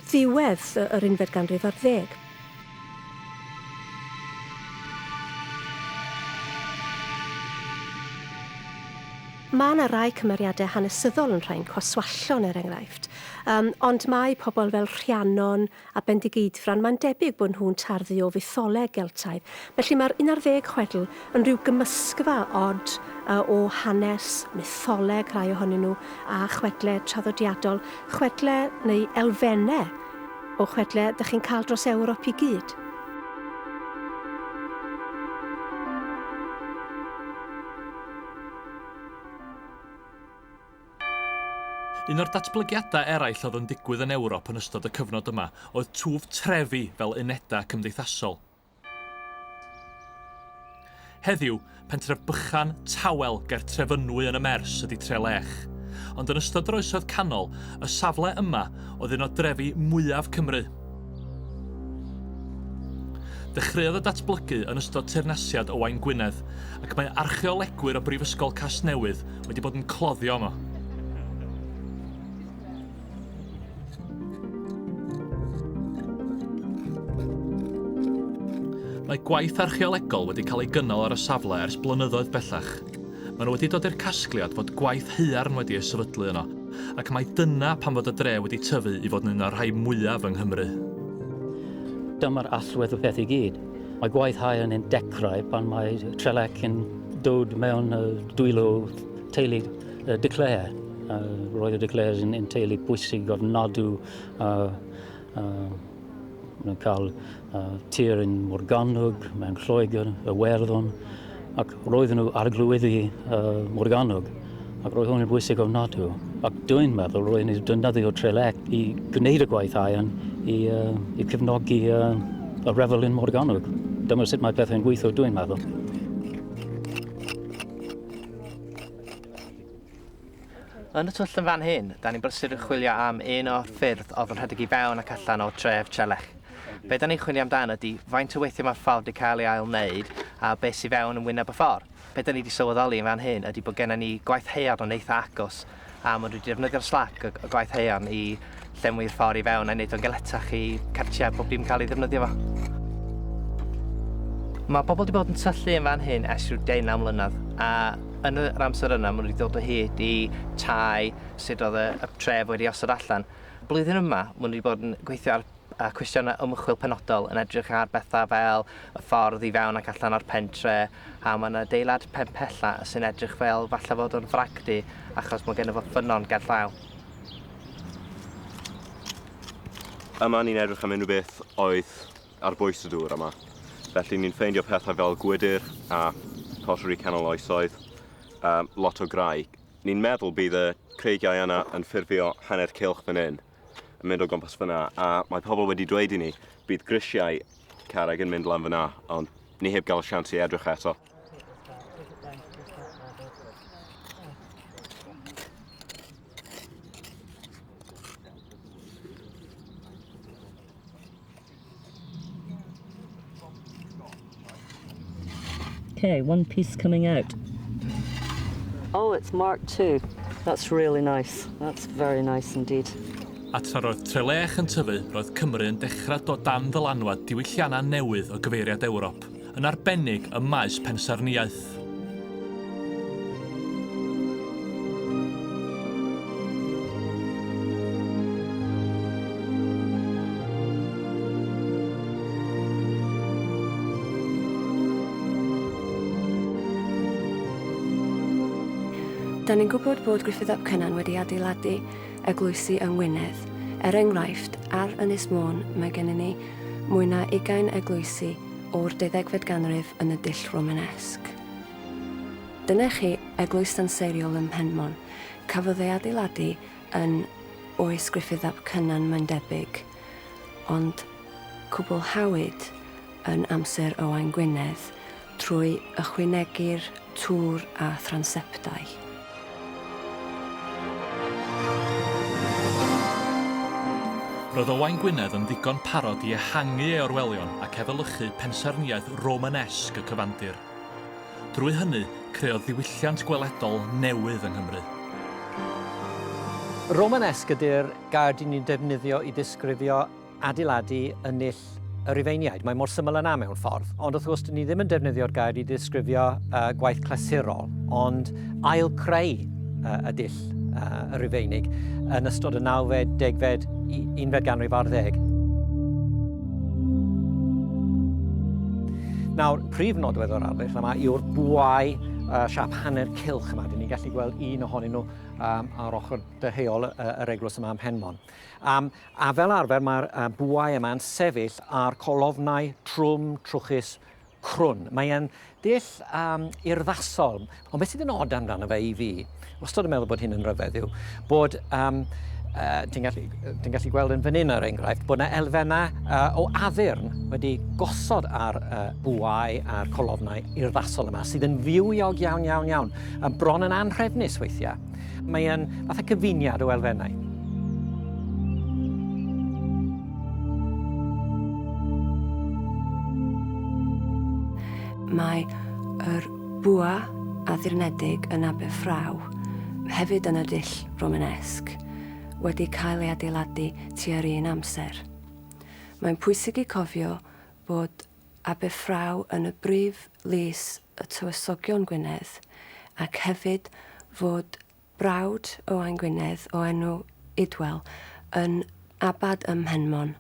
ddiwedd yr unfed ganrif ar ddeg. Mae yna rai cymeriadau hanesyddol yn rhain, Cwaswallon er enghraifft, yym, ond mae pobl fel Rhiannon a Bendigeidfran, mae'n debyg bod nhw'n tarddu o fytholeg Geltaidd. Felly mae'r un ar ddeg chwedl yn rhyw gymysgfa od yy o hanes, mytholeg rhai ohonyn nhw, a chwedle traddodiadol, chwedle neu elfenne O chwedle dych chi'n cael dros Ewrop i gyd.
Un o'r datblygiadau eraill oedd yn digwydd yn Ewrop yn ystod y cyfnod yma oedd twf trefi fel unedau cymdeithasol. Heddiw, pentref bychan, tawel, ger Trefynwy yn y Mers ydy Trelech. Ond yn ystod yr Oesoedd Canol, y safle yma oedd un o drefi mwyaf Cymru. Dechreuodd y datblygu yn ystod teyrnasiad Owain Gwynedd, ac mae archeolegwyr o Brifysgol Casnewydd wedi bod yn cloddio yma. Mae gwaith archeolegol wedi cael ei gynnal ar y safle ers blynyddoedd bellach. Maen nhw wedi dod i'r casgliad fod gwaith haearn wedi ei sefydlu yno, ac mae dyna pam fod y dre wedi tyfu i fod yn un o'r rhai mwyaf yng Nghymru.
Dyma'r allwedd y peth i gyd. Mae gwaith haearn yn dechrau pan mae Trelec yn dod mewn dwylo teulu. Y declare. Uh, roedd y declares yn, yn teulu bwysig o'r nodw uh, uh, cael uh, tir yn Morgannwg, mewn Lloegr, y Werddon, ac roedden nhw ar glwyddi uh, Morgannwg. Ac roedd hwn yn bwysig o'r nodw. Ac dwi'n meddwl roedd ni'n defnyddio Trelec i gwneud y gwaith aen i, uh, i cefnogi uh, y refel yn Morgannwg. Dyma sut mae pethau'n gweithio, dwi'n meddwl.
Yn y twll yn fan hyn, da ni'n brysur yn chwilio am un o'r ffyrdd oedd yn rhedeg i fewn ac allan o tref Trelech. Be da ni'n chwilio amdan ydy faint o weithiau mae'r ffordd wedi cael ei ail wneud a beth sydd fewn yn wyneb y ffordd. Be da ni wedi sylweddoli yn fan hyn ydy bod gennym ni gwaith haearn yn eitha agos a maen nhw wedi defnyddio'r slac y gwaith haearn i llenwi'r ffordd i fewn a'i wneud o'n galetach i cartiau pob dim cael ei ddefnyddio fo. Mae pobl wedi bod yn tyllu yn fan hyn ers rhyw deunaw mlynedd, a yn yr amser yna maen nhw wedi dod o hyd i tai sut oedd y, y tref wedi osod allan. Blwyddyn yma, maen nhw wedi bod yn gweithio ar a cwestiynau ymchwil penodol yn edrych ar bethau fel y ffordd i fewn ac allan o'r pentre, a mae'n adeilad penpella sy'n edrych fel falle fod o'n fragdy achos mae gennym fo ffynnon ger llaw.
Yma ni'n edrych am unrhyw beth oedd ar bwys y dŵr yma. Felly ni'n ffeindio pethau fel gwydr a pottery canol oesoedd, um, lot o graig. Ni'n meddwl bydd y creigiau yna yn ffurfio hanner cylch fan hyn. yn mynd o gwmpas fyna a mae pobl wedi dweud i ni bydd grisiau carreg yn mynd lan fyna ond ni heb gael sians i edrych eto.
Okay, one piece coming out. Oh, it's marked too. That's really nice. That's very nice indeed. A tra roedd
Trelech yn tyfu, roedd Cymru yn dechrau dod dan ddylanwad diwylliannau newydd o gyfeiriad Ewrop. yn arbennig ym maes pensaernïaeth.
Da ni'n gwybod bod Griffith ap Cynan wedi adeiladu eglwysi yng Ngwynedd. Er enghraifft, ar Ynys Môn mae gennym ni mwy na ugain eglwysi o'r deuddegfed ganrif yn y dull Romanesque. Dyna chi eglwys danseiriol ym Mhenmon. Cafodd ei adeiladu yn oes Gruffydd ap Cynan mae'n debyg, ond cwblhawyd yn amser Owain Gwynedd, Trwy ychwanegu'r twr a thranseptau.
Roedd Owain Gwynedd yn ddigon parod i ehangu ei orwelion ac efelychu pensaernïaeth Romanesque y cyfandir. Drwy hynny, creodd ddiwylliant gweledol newydd yng Nghymru.
Romanesque ydy'r gair dyn ni'n defnyddio i ddisgrifio adeiladu yn nill y Rhufeiniaid. Mae mor syml yna mewn ffordd. Ond wrth gwrs, ni ddim yn defnyddio'r gair i ddisgrifio uh, gwaith clasurol, ond ail creu uh, y dill uh, y Rhufeinig yn ystod y 9fed, 10fed, 11fed ganrif ar ddeg. Nawr, prif nodwedd o'r arddull yma yw'r bwau uh, siap hanner cilch yma. Dyn ni'n gallu gweld un ohonyn nhw um, ar ochr dyheol uh, yr eglwys yma ym Mhenmon. Um, a fel arfer mae'r uh, bwau yma'n sefyll ar colofnau trwm, trwchus, crwn. Mae e'n dull um, urddasol, ond beth sydd yn od amdano fe i fi, wastad yn meddwl bod hyn yn rhyfedd yw, bod um, uh, ti'n gallu, gallu gweld yn fan hyn ar er enghraifft bod yna elfennau uh, o addurn wedi gosod ar uh, bwau a'r colofnau urddasol yma sydd yn fywiog iawn iawn iawn a bron yn anhrefnus weithiau. Mae'n fath o gyfuniad o elfennau.
Mae yr bwa addurnedig yn Aberffraw, hefyd yn y dull Romanesg, wedi cael ei adeiladu tua'r un amser. Mae'n pwysig i cofio bod Aberffraw yn y brif lys y Tywysogion Gwynedd ac hefyd fod brawd Owain Gwynedd o enw Idwal yn abad ym Mhenmon,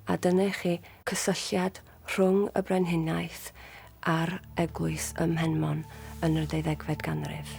a dyna i chi cysylltiad rhwng y brenhiniaeth a'r eglwys ym Mhenmon yn yr ddeuddegfed ganrif.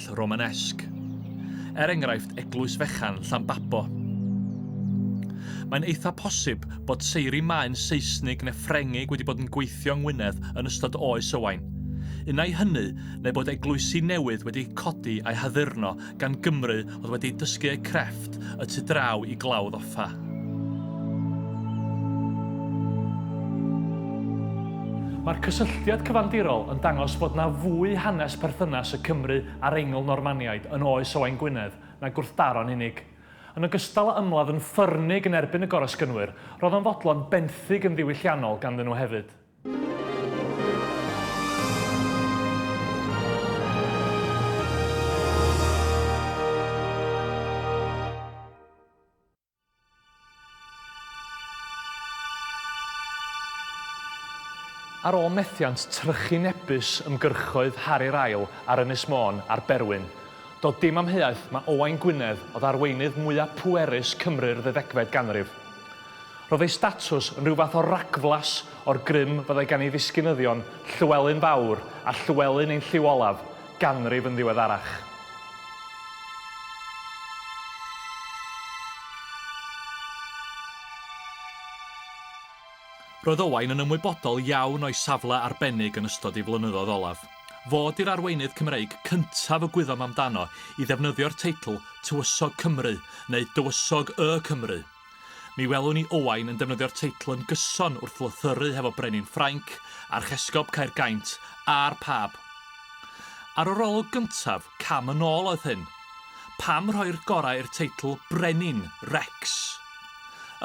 castell Romanesque, er enghraifft Eglwys Fechan Llanbabo. Mae'n eitha posib bod seiri maen Seisnig neu Ffrengig wedi bod yn gweithio yng Ngwynedd yn ystod Oes Owain. Unai hynny, neu bod eglwysi newydd wedi codi a'u haddurno gan Gymry oedd wedi dysgu eu crefft y tu draw i glawdd o Fa. Mae'r cysylltiad cyfandirol yn dangos bod na fwy hanes perthynas y Cymry a'r Eingl-Normaniaid yn oes Owain Gwynedd na gwrthdaro'n unig. Yn ogystal â ymladd yn ffyrnig yn erbyn y Goresgynwyr, roedd o'n fodlon benthyg yn ddiwylliannol ganddyn nhw hefyd. Ar ôl methiant trychinebus ymgyrchoedd Harri'r Ail ar Ynys Môn a'r Berwyn, doedd dim amheuaeth mae Owain Gwynedd oedd arweinydd mwyaf pwerus Cymru'r ddeuddegfed ganrif. Roedd ei statws yn rhyw fath o ragflas o'r grym fyddai gan ei ddisgynyddion Llywelyn Fawr a Llywelyn ein lliw olaf, ganrif yn ddiweddarach. Roedd Owain yn ymwybodol iawn o'i safle arbennig yn ystod ei flynyddoedd olaf. Fo ydy'r arweinydd Cymreig cyntaf y gwyddom amdano i ddefnyddio'r teitl Tywysog Cymru neu Dywysog Y Cymry. Mi welwn ni Owain yn defnyddio'r teitl yn gyson wrth lythyru hefo brenin Ffrainc, archesgob Caergaint a'r Pab. Ar yr olwg gyntaf, cam yn ôl oedd hyn. Pam rhoi'r gorau i'r teitl 'brenin', 'rex'?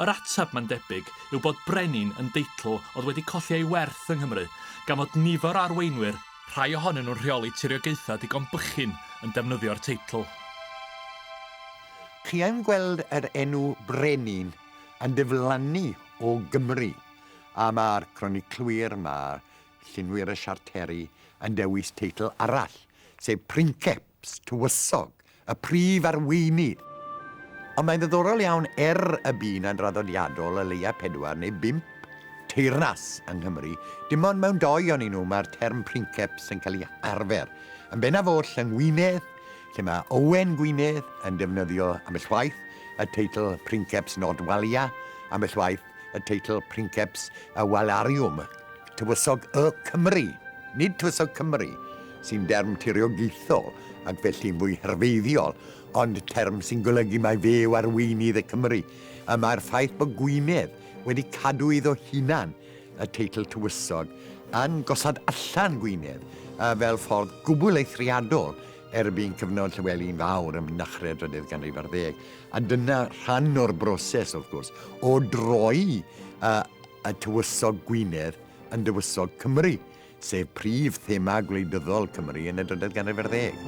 Yr ateb, mae'n debyg, yw bod 'brenin' yn deitl oedd wedi colli ei werth yng Nghymru, gan fod nifer o arweinwyr, rhai ohonyn nhw'n rheoli tiriogaethau digon bychin, yn defnyddio'r teitl.
Chi yn gweld yr enw Brenin yn diflannu o Gymru, a ma'r croniclwyr, ma' llunwyr y siarteri yn dewis teitl arall, sef Princeps, Tywysog, y Prif Arweinydd. Ond mae'n ddiddorol iawn er y bu 'na'n draddodiadol o leia' pedwar neu bump teyrnas yng Nghymru, dim ond mewn dou onyn nhw ma'r term Princeps yn cael ei arfer, yn bennaf oll yng Ngwynedd lle mae Owen Gwynedd yn defnyddio ambell waith y teitl Princeps Nordwallia, ambell waith y teitl Princeps y Walariwm, Tywysog Y Cymry, nid Tywysog Cymru, sy'n derm tiriogaethol ac felly'n fwy herfeiddiol, ond term sy'n golygu mai fe yw arweinydd y Cymry, y mae'r ffaith bod Gwynedd wedi cadw iddo hunan y teitl tywysog yn gosod allan Gwynedd fel ffordd gwbl eithriadol erbyn cyfnod Llywelyn Fawr ym mynychred drydydd ganrif ar ddeg, a dyna rhan o'r broses, wrth gwrs, o droi y tywysog Gwynedd yn dywysog Cymru. sef prif thema gwleidyddol Cymru yn y drydedd ganrif ar ddeg.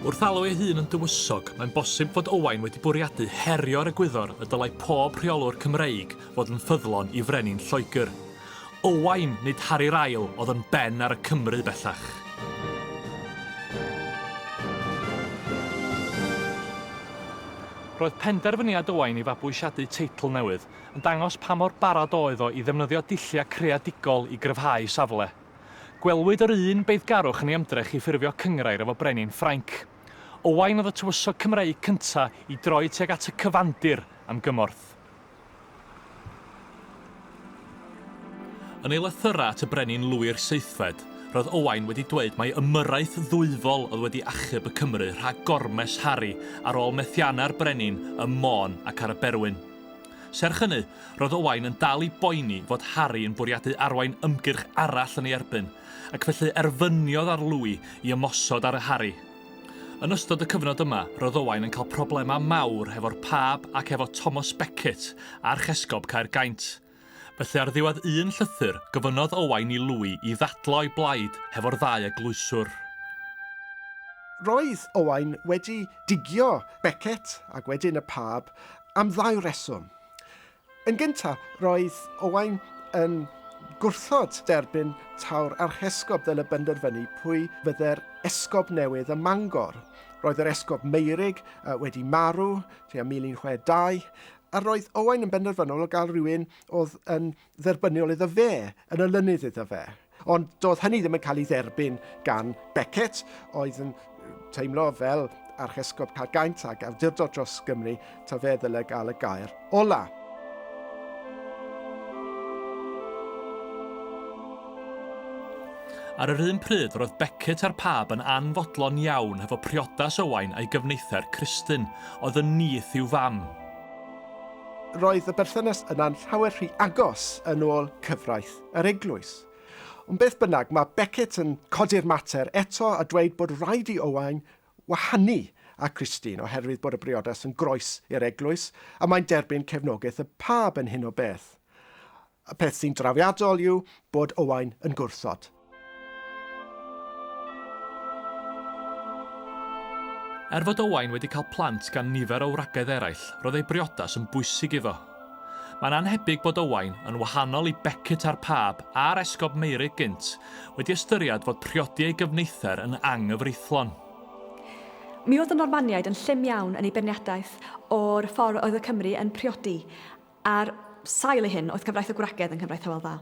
Wrth alw ei hun yn dywysog, mae'n bosib fod Owain wedi bwriadu herio'r egwyddor y dylai pob rheolwr Cymreig fod yn ffyddlon i frenin Lloegr, Owain, nid Harri'r Ail, oedd yn ben ar y Cymry bellach. Roedd penderfyniad Owain i fabwysiadu teitl newydd yn dangos pa mor barod oedd o i ddefnyddio dulliau creadigol i gryfhau safle. Gwelwyd yr un beiddgarwch yn ei ymdrech i ffurfio cynghrair efo brenin Ffrainc. Owain oedd y tywysog Cymreig cyntaf i droi tuag at y cyfandir am gymorth. Yn ei lythyrau at y brenin lwyr seithfed, roedd Owain wedi dweud mai ymyrraeth ddwyfol oedd wedi achub y Cymry rhag gormes Harri ar ôl methiannau'r brenin ym Môn ac ar y Berwyn. Serch hynny, roedd Owain yn dal i boeni fod Harri yn bwriadu arwain ymgyrch arall yn ei erbyn, ac felly erfyniodd ar Louis i ymosod ar Harri. Yn ystod y cyfnod yma, roedd Owain yn cael problemau mawr hefo'r pab ac hefo Thomas Becket, archesgob Caergaint. Felly ar ddiwedd un llythyr, gofynnodd Owain i Louis i ddadlau o'i blaid hefo'r ddau eglwyswr.
Roedd Owain wedi digio Becket, ac wedyn y pab, am ddau reswm. Yn gyntaf, roedd Owain yn gwrthod derbyn taw'r archesgob fel y benderfynu pwy fydde'r esgob newydd ym Mangor. Roedd yr esgob Meurig wedi marw tua 1062, a roedd Owain yn benderfynol o gael rhywun oedd yn dderbyniol iddo fe, yn olynydd iddo fe. Ond doedd hynny ddim yn cael ei dderbyn gan Beckett, oedd yn teimlo fel archesgob cael gaint ag awdurdod dros Gymru, ta fe ddyle gael y gair ola.
Ar yr un pryd, roedd Beckett a'r pab yn anfodlon iawn hefo priodas Owain a'i gyfneithau'r Cristin, oedd yn nith i'w fam.
Roedd y berthynas yna'n llawer rhy agos yn ôl cyfraith. yr eglwys. Ond beth bynnag, mae Beckett yn codi'r mater eto a dweud bod rhaid i Owain wahanu a Christine oherwydd bod y briodas yn groes i'r eglwys a mae'n derbyn cefnogaeth y pab yn hyn o beth. Y peth sy'n drawiadol yw bod Owain yn gwrthod.
Er fod Owain wedi cael plant gan nifer o wragedd eraill, roedd ei briodas yn bwysig iddo. Mae'n annhebyg bod Owain, yn wahanol i Beckett a'r Pab a'r Esgob Meirig gynt, wedi ystyried fod priodi ei gyfneither yn anghyfreithlon.
Mi oedd y Normaniaid yn llym iawn yn eu beirniadaeth o'r ffordd oedd y Cymry yn priodi, ar sail ei hyn oedd cyfraith y gwragedd yn cyfraith Hywel Dda.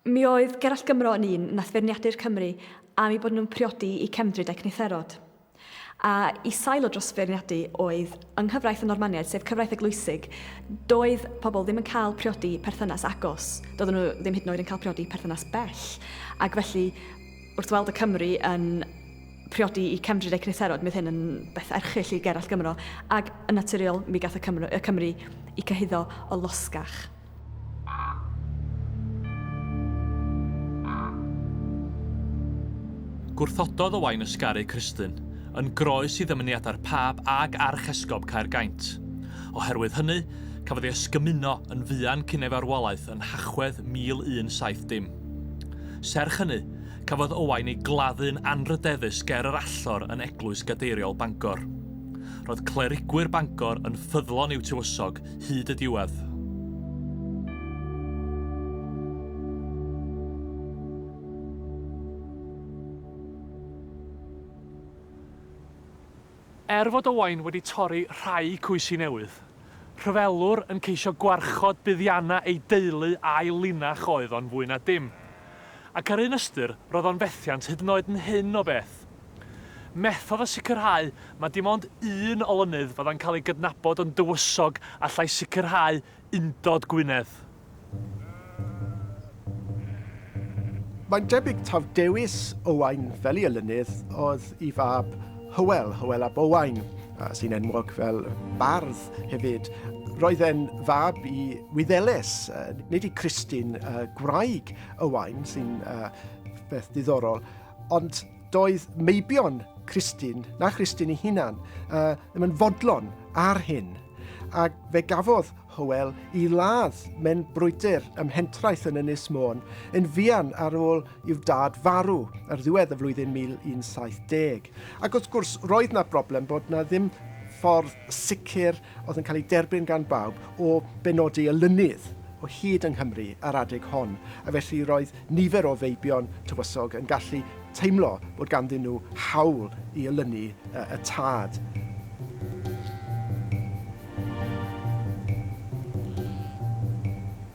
Mi oedd Gerallt Gymro yn un nath feirniadu'r Cymry am eu bod nhw'n priodi i cefndryd a'u cnitherod. A i sail o dros feirniadu oedd yng nghyfraith y Normaniaid sef cyfraith eglwysig doedd pobl ddim yn cael priodi perthynas agos, doedden nhw ddim hyd yn oed yn cael priodi perthynas bell ac felly wrth weld y Cymry yn priodi i cefndryd a'u cnitherod mi oedd hyn yn beth erchyll i Gerallt Gymro ac yn naturiol mi gath y Cymro, y Cymry i cyhuddo o losgach.
Gwrthododd Owain ysgaru Cristlyn, yn groes i ddymuniadau'r Pab ag Archesgob Caergaint. Oherwydd hynny, cafodd ei ysgymuno yn fuan cyn ei farwolaeth yn Nhachwedd 1170. Serch hynny, cafodd Owain ei gladdu'n anrhydeddus ger yr allor yn Eglwys Gadeiriol Bangor. Roedd clerigwyr Bangor yn ffyddlon i'w tywysog hyd y diwedd. Er fod Owain wedi torri rhai coesi newydd, rhyfelwr yn ceisio gwarchod buddiannau ei deulu a'i linach oedd o'n fwy na dim. Ac ar un ystyr, roedd o'n fethiant hyd yn oed yn hyn o beth. Methodd o sicrhau mae dim ond un olynydd fyddai'n cael ei gydnabod yn dywysog allai sicrhau undod Gwynedd.
Mae'n debyg taw dewis Owain fel ei olynydd oedd ei fab Hywel, Hywel ab Owain, sy'n enwog fel bardd hefyd. Roedd e'n fab i Wyddeles, nid i Christine, gwraig Owain, sy'n beth ddiddorol. Ond doedd meibion Christine, na Christine ei hunan, uh, ddim yn fodlon ar hyn. Ac fe gafodd Hywel i ladd mewn brwydr ym mhentraeth yn Ynys Môn yn fuan ar ôl i'w dad farw ar ddiwedd y flwyddyn 1170. Ac wrth gwrs, roedd na broblem bod na ddim ffordd sicr oedd yn cael ei derbyn gan bawb o benodi y lunydd o hyd yng Nghymru ar adeg hon, a felly roedd nifer o feibion tywysog yn gallu teimlo bod ganddyn nhw hawl i olynu y tad.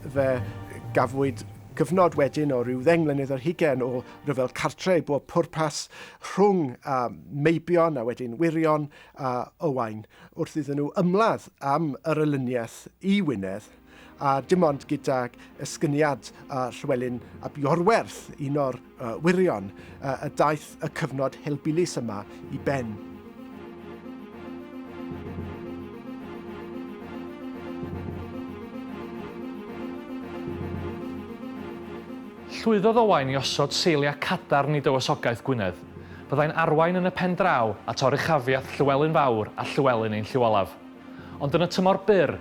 Fe gafwyd gyfnod wedyn o ryw ddeng mlynedd ar hugen o ryfel cartre i bob pwrpas rhwng meibion a wedyn wirion a Owain wrth iddyn nhw ymladd am yr olyniaeth i Wynedd, a dim ond gydag esgyniad a Llywelyn ap Iorwerth, un o'r uh, wyrion, uh, y daeth y cyfnod helbulus yma i ben.
Llwyddodd Owain i osod seiliau cadarn i dywysogaeth Gwynedd. Byddai'n arwain yn y pen draw at oruchafiaeth Llywelyn Fawr a Llywelyn ein Llyw Olaf. Ond yn y tymor byr,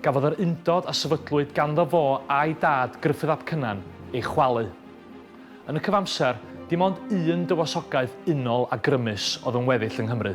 gafodd yr undod a sefydlwyd ganddo fo a'i dad Gruffudd ap Cynan ei chwalu. Yn y cyfamser, dim ond un dywysogaeth unol a grymus oedd yn weddill yng Nghymru.